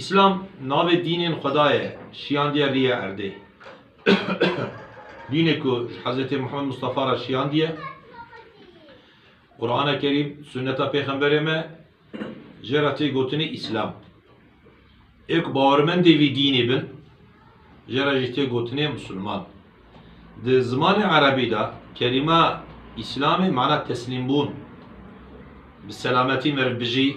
Îslam navê dînên Xweda ye şiyandiye rîyê erdê. Dînê ku ji Hezretê Muhammed Mustafa re şiyandiye, Qurana Kerîm, Sunneta Pêxemberê me jê re tê gotinê Îslam. Ê ku bawermendê vî dînê bin jê re jî tê gotinê Musulman. Di zimanê Erebî de kelîma Îslamê mana teslîmbûn, bi selametî meriv bijî,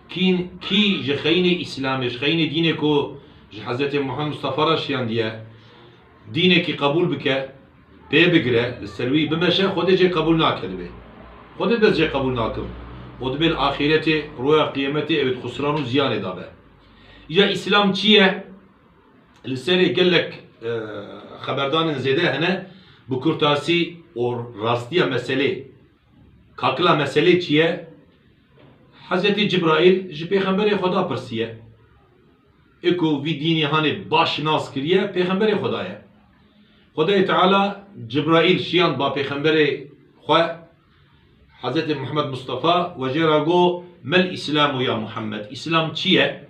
Kîn, kî ji xeyînê Îslamê, ji xeyînê dînê ku ji Hezretê Muhammed Mustafa re şiyandiye, dînekî qebûl bike, pê bigire, li ser wî bimeşe, Xwedê jê qebûl nake divê. Xwedê dibes jê qebûl nakim. Û dibê li axîretê, roja qîyemetê ew ê di xusran û ziyanê de be. Îja Îslam çi ye? Li serê gelek xeberdanên zêde hene, bi kurtasî û rastiya meselê, kakila meselê çi ye? Hezretî Cibraîl ji Pêxemberê Xweda pirsiye, Ê ku vî dînê hanê baş nas kiriye, Pêxemberê Xweda ye. Xwedayê Teala Cibraîl şiyand ba Pêxemberê Xwe, Hezretê Muhammed Mustafa, wejê ra got, Mel Îslâmu ya Muhammed, Îslam çi ye?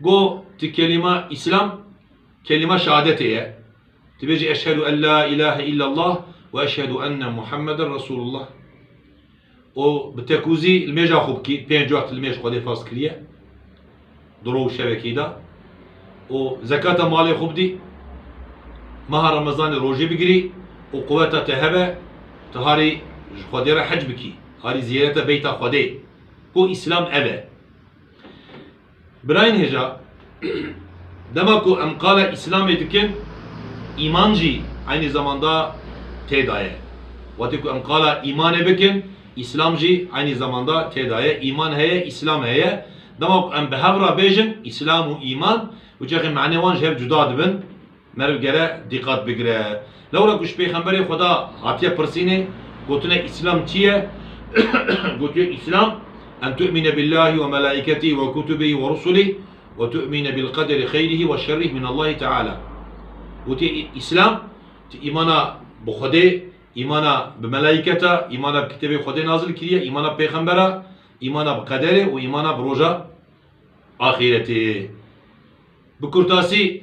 Go ti kelîma Îslam kelîma şehadetê ye. Ti bêjî eşhedû en la îlahe îllallah û eşhedû enne Muhammeden Resûlullah. û bi tekûzî li mêja xwe bikî, pênc wext li mêj Xwedê farz kiriye di roj û şevekî de û zekata malê xwe bidî, meha remezanê rojê bigirî û quweta te hebe ti harî ji Xwedê re hec bikî, harî ziyareta Beyta Xwedê. Go Îslam ev e. Birayên hêja, dema ku em qala Îslamê dikin, îman jî eynî zamanda tê de ye. Wextê ku em qala îmanê bikin, Îslam jî eynî zamanda tê de ye. Îman heye, Îslam heye. Dema ku em bi hev re bêjin Îslam û îman, tu çaxê manê wan ji hev cuda dibin. Meriv gere dîqat bigire. Lewra ku ji Pêxemberê Xweda hatiye pirsînê, gotine Îslam çi ye? Gotiye Îslam en tu'mine billâhi we melâiketîhi we kutubîhi we rusulî we tu'mine bil qederî xeyrîhi we şerrîh min Allâhi Teâlâ. Gotiye Îslam tu îmana bi Xwedê, îmana bi melâiketa, îmana bi kitêbê Xwedê nazil kiriye, îmana bi pêxembera, îmana bi qederê û îmana bi roja axîretê. Bi kurtasî,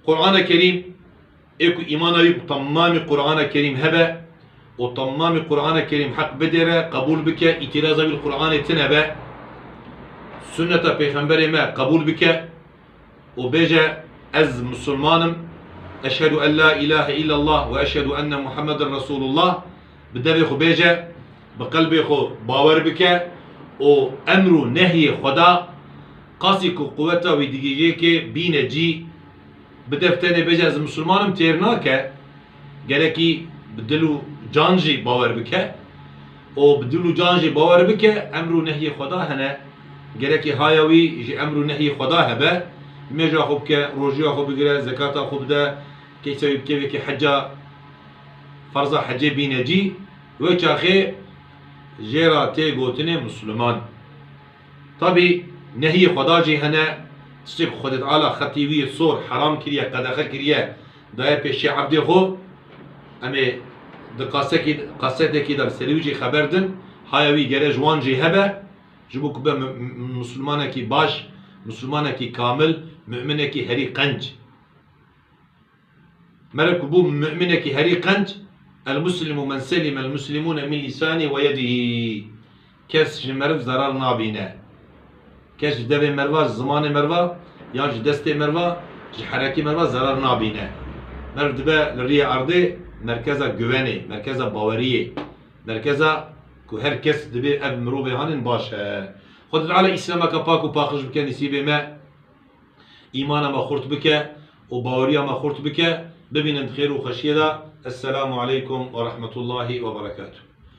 Qur'ana Kerîm ê ku îmana wî bi temamî Qur'ana Kerîm hebe û temamî Qur'ana Kerîm heq bidêre, qebûl bike, îtîraza wî li Qur'anê tine be, sunneta pêxemberê me qebûl bike û bêje ez misilman im, eşhedû en la îlahe îllellah we eşhedû enne Muhammeden Resûlullah, Bi devê xwe bêje, bi qelbê xwe bawer bike û emr û nehyê Xweda, qasî ku quweta wî digihîje kê, bîne cî. Bi dev tenê bêje ez misilman im têr nake, gerekî bi dil û can jî bawer bike û bi dil û can jî bawer bike emr û nehyê Xweda hene, gerekî haya wî ji emr û nehyê Xweda hebe, nûêja xwe bike, rojuya xwe bigire, zekata xwe bide, keysa wî bike wekî heca. Ferza hecê bîne cî wê çaxê jê ra tê gotinê musliman. Tabî nehiyê xweda jî hene, tiştê ku Xwedê Teala xetî wî yê sor heram kiriye, qedexe kiriye, daye pêşiya ebdê xwe, em ê di kasekî kasetekî de bi serî wî jî xeber din, haya wî gere ji wan jî hebe, ji bo ku be muslimanekî baş, muslimanekî kamil, mu'minekî herî qenc. Mere ku bû mu'minekî herî qenc, El-muslimu men selime el-muslimûne min lîsanî we yedihî, kes ji meriv zerar nabîne. Kes ji devê meriva, ji zimanê meriva yan ji destê meriva, ji herekî meriva zerar nabîne. Meriv dibe li riyê erdê merkeza guvenê, merkeza baweriyê, merkeza ku her kes dibê ev mirovê hanin baş e. Xweda Teala Îslameke pak û paqij bike nisîbê me. Îmana me xurt bike û baweriya me xurt bike, bibînin di xêr û xweşiyê de. Esselamu aleykum werahmetullahî weberekatû.